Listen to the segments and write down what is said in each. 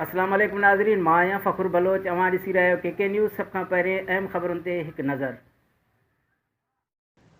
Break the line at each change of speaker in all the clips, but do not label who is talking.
اسلام عليڪم ناظرين مان آهيان فخر بلوچ اوهان ڏسي رهيا آهيو ڪي ڪي نيوز سڀ کان پهرين اهم خبرن تي هڪ نظر.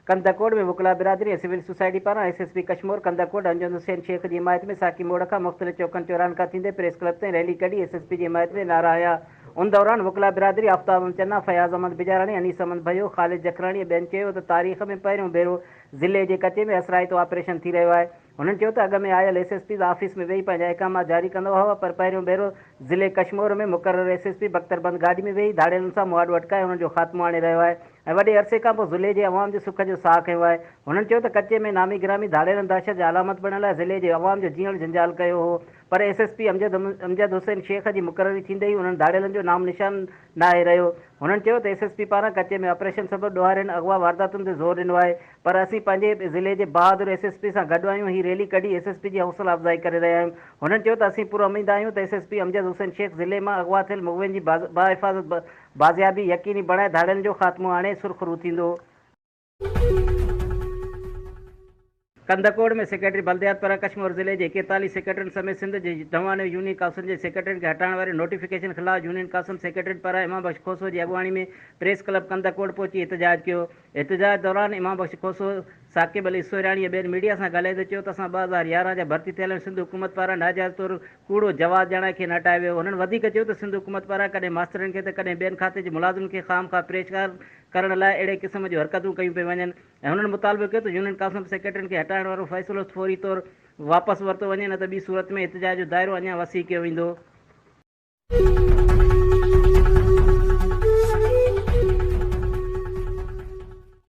ڪنڌڪوٽ ۾ وڪلا برادري ۽ سول سوسائٽي پاران S S P Kashmore Kandhkot انجن حسين شيخ جي حمايت ۾ ساقي موڙ کان مختلف چوڪن چوراهن کان ٿيندي پريس ڪلب تائين ريلي ڪڍي ايس ايس پي جي حمايت ۾ نعرا هنيا ان دوران وڪلا برادري آفتاب احمد چنا، فياض احمد بجاراڻي، انيس احمد ڀيو، خالد جکراڻي ۽ ٻين چيو ته تاريخ ۾ پهريون ڀيرو ضلعي جي ڪچي ۾ اثرائتو آپريشن ٿي رهيو آهي. هنن چيو ته اڳ ۾ آيل ايس ايس پيز آفيس ۾ ويهي پنهنجا احڪامات جاري ڪندا هئا پر پهريون ڀيرو ضلعي ڪشمور ۾ مقرر ايس ايس پي بختربند گاڏي ۾ ويهي ڌاڙيلن سان مهاڏو اٽڪائي انهن جو خاتمو آڻي رهيو آهي ۽ وڏي عرصي کانپوء ضلعي جي عوام جي سک جو ساهه کنيو آهي. هنن چيو ته ڪچي ۾ نامي گرامي ڌاڙيلن دهشت جا علامت بڻيل آهي ضلعي جي عوام جو جيئڻ جنجال ڪيو هو. پر S S P Amjad Hussain Shaikh جي مقرري ٿيندي ئي انهن ڌاڙيلن جو نام نشان ناهي رهيو. هنن چيو ته ايس ايس پي پاران ڪچي ۾ آپريشن سبب ڏوهارين اغوا وارداتن تي زور ڏنو آهي پر اسين پنهنجي ضلعي جي بهادر ايس ايس پي سان گڏ آهيون هي ريلي ڪڍي ايس ايس پي جي حوصلا افزائي ڪري رهيا آهيون هنن چيو ته اسين پراميد آهيون ته S S P Amjad Hussain Shaikh ضلعي مان اغوا ٿيل مغوين جي باحفاظت بازيابي يقيني بڻائي ڌاڙيلن جو خاتمو آڻي سرخرو ٿيندو. ڪنڌڪوٽ ۾ سيڪريٽري بلديات پرهه ڪشمور ضلعي جي ايڪيتاليهه سيڪريٽرين سميت سنڌ جي دونهين يونين ڪائونسلن جي سيڪريٽرين کي هٽائڻ واري نوٽيفڪيشن خلاف يونين ڪائونسل سيڪريٽرين پرهه امام بخش کوسو جي اڳواڻي ۾ پريس ڪلب ڪنڌڪوٽ پهچي احتجاج ڪيو احتجاج دوران امام بخش کوسو ثاقب علي سورهياڻي ۽ ٻين ميڊيا سان ڳالهائيندي چيو ته اسان ٻه هزار يارهن جا ڀرتي ٿيل آهيون سنڌ حڪومت پاران ناجائز طور ڪوڙو جواز ڄاڻائي کين هٽايو ويو هو هنن وڌيڪ چيو ته سنڌ حڪومت پاران ڪڏهن ماسترن کي ته ڪڏهن ٻين کاتي جي ملازمن کي خام خواه پريشان ڪرڻ لاء اهڙي قسم جون حرڪتون ڪيون پيون وڃن ۽ هنن مطالبو ڪيو ته يونين ڪائونسل سيڪريٽرين کي هٽائڻ وارو فيصلو فوري طور واپس ورتو وڃي نه ته ٻي صورت ۾ احتجاج جو دائرو اڃا وسيع ڪيو ويندو.